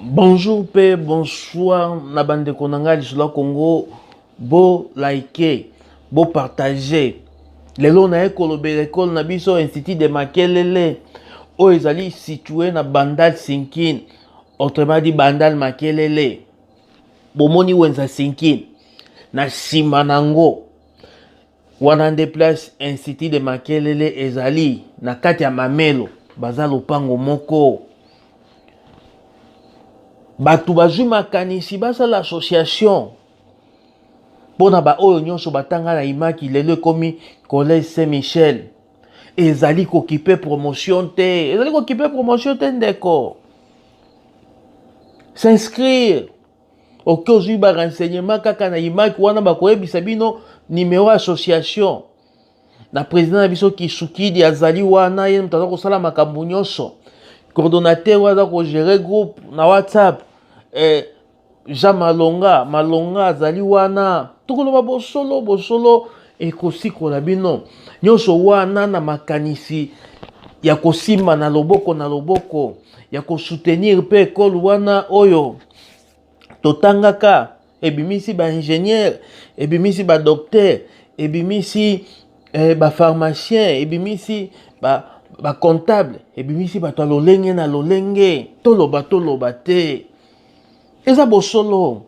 bonjour mpe bonsoir na bandeko na ngai lisolo ya congo bolike bopartage lelo naye kolobela ekole na biso institut de makelele oyo ezali situe na bandal sinkin autrement dit bandal makelele bomoni wenza sinkin na nsima na yango Wana nde place Institut de Makelele ezali na kati ya Mamelo, baza lopango moko. Bato bazwi makanisi basala association mpo na baoyo nyonso batanga na imaki lelo ekomi collège saint michel ezali kokipe promotion te ezali kokipe promotion te ndeko s'inscrire oke okay, ozwi ba renseignement kaka na imaki wana bakoyebisa bino numero ya association na président na biso kisukidi azali wana ye moto aza kosala makambo nyonso coordonnateur oyo aza kogere groupe na whatsapp eh, jean malonga malonga azali wana tokoloba bosolo bosolo ekosikola bino nyonso wana na makanisi ya kosimba na loboko na loboko ya kosutenir mpe ekolo wana oyo totangaka ebimisi ba ingénieur ebimisi ba docteur ebimisi eh, ba pharmacien ebimisi ba, ba comptable ebimisi bato ya lolenge na lolenge toloba toloba te eza bosolo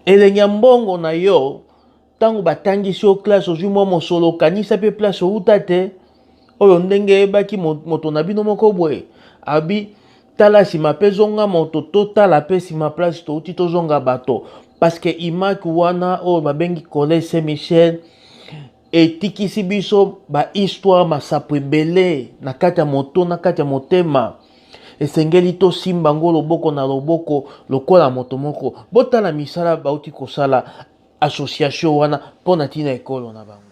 elengi ya mbongo na yo ntango batangisi yo classe ozwi mwa mosolo okanisa mpe place outa te oyo ndenge eyebaki moto na bino moko boye abi tala nsima mpe zonga moto totala mpe nsima place touti tozonga bato parceke imaki wana oyo babengi collège saint michel etikisi biso bahistoire masapo ebele na kati ya moto na kati ya motema esengeli tosimba yango loboko na loboko lokola moto moko botala misala bauti kosala association wana mpo na ntina ekolo na bango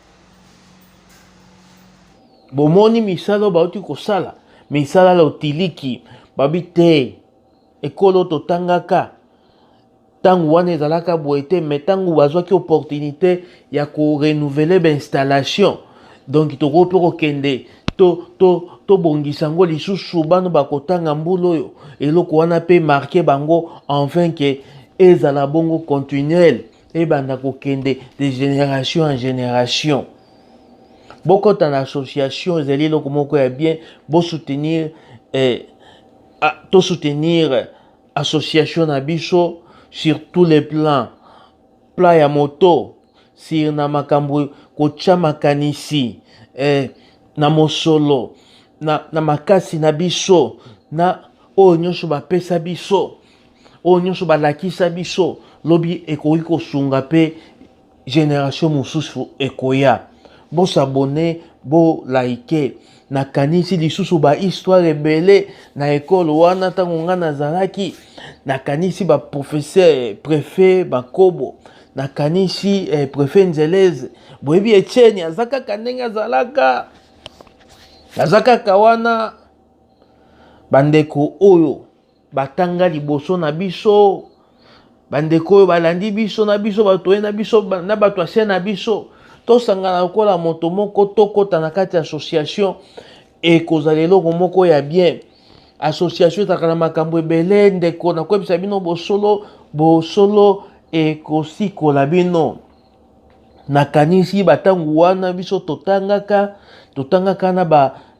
bomoni misala oyo bauti kosala misala la otiliki babi te ekolo totangaka ntango wana ezalaka boye te mai ntango bazwaki opportunité ya korenouvele bainstallation donk tokoki mpe kokende tobongisa to, to yango lisusu bano bakotanga mbula oyo eloko wana mpe marke bango enfin ke ezala bongo continuele ebanda kokende de génération en génération bokota na association ezali eloko moko ya bien bosoutenir eh, ah, tosoutenir association na biso sur tous les plans plan ya moto sur na makambo kotya makanisi eh, na mosolo na, na makasi na biso na oyo nyonso bapesa biso oyo nyonso balakisa biso lobi ekoki kosunga mpe generation mosusu ekoya bosabone bolaike nakanisi lisusu bahistoire ebele na ekolo wana ntango ngai nazalaki nakanisi baprofesseur prefet bakobo nakanisi eh, prefet nzeleze boyebi etieni aza kaka ndenge azalaka aza kaka wana bandeko oyo batanga liboso na biso bandeko oyo balandi biso na biso bato oye na biso na bato ya se na biso tosangana lokola moto moko tokɔta na kati ya association ekozala eloko moko ya bien association ezalaka na makambo ebele ndeko nakoyebisa bino bosolo bosolo ekosikola bino nakanisi batango wana biso totangaka totangaka na ba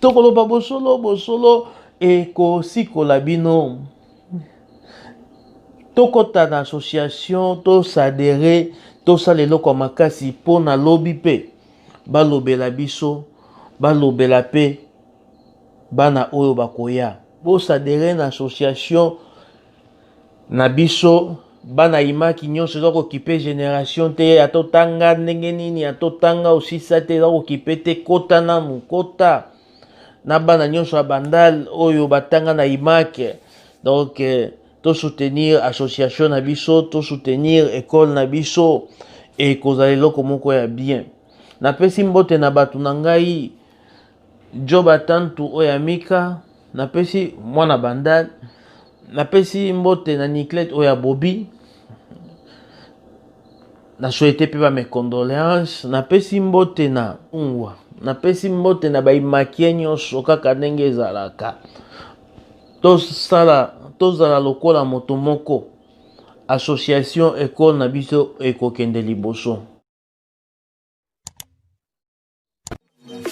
tokoloba bosolo bosolo ekosikola bino tokɔta na association tosadere tosala eloko ya makasi mpo na lobi mpe balobela biso balobela mpe bana oyo bakoya bosadere na association Na biso bana imaki nyonso eza kokipe generation te ata otanga ndenge nini ata otanga osisa te eza kokipe te kota nanu kota na bana nyonso ya bandal oyo batanga na imake donc eh, tosoutenir association na biso tosoutenir ekole na biso ekozala eloko moko ya bien napesi mbote na bato na ngai Joba tantu oyo ya Mika, napesi mwana bandal, napesi mbote na Niclette oyo ya Bobi. Na souhaite pe ba mes condoléances, napesi mbote na Ungwa, napesi mbote na ba imakie nyonso kaka ndenge ezalaka. Tosala tozala lokola moto moko. Association ekole na biso ekokende liboso.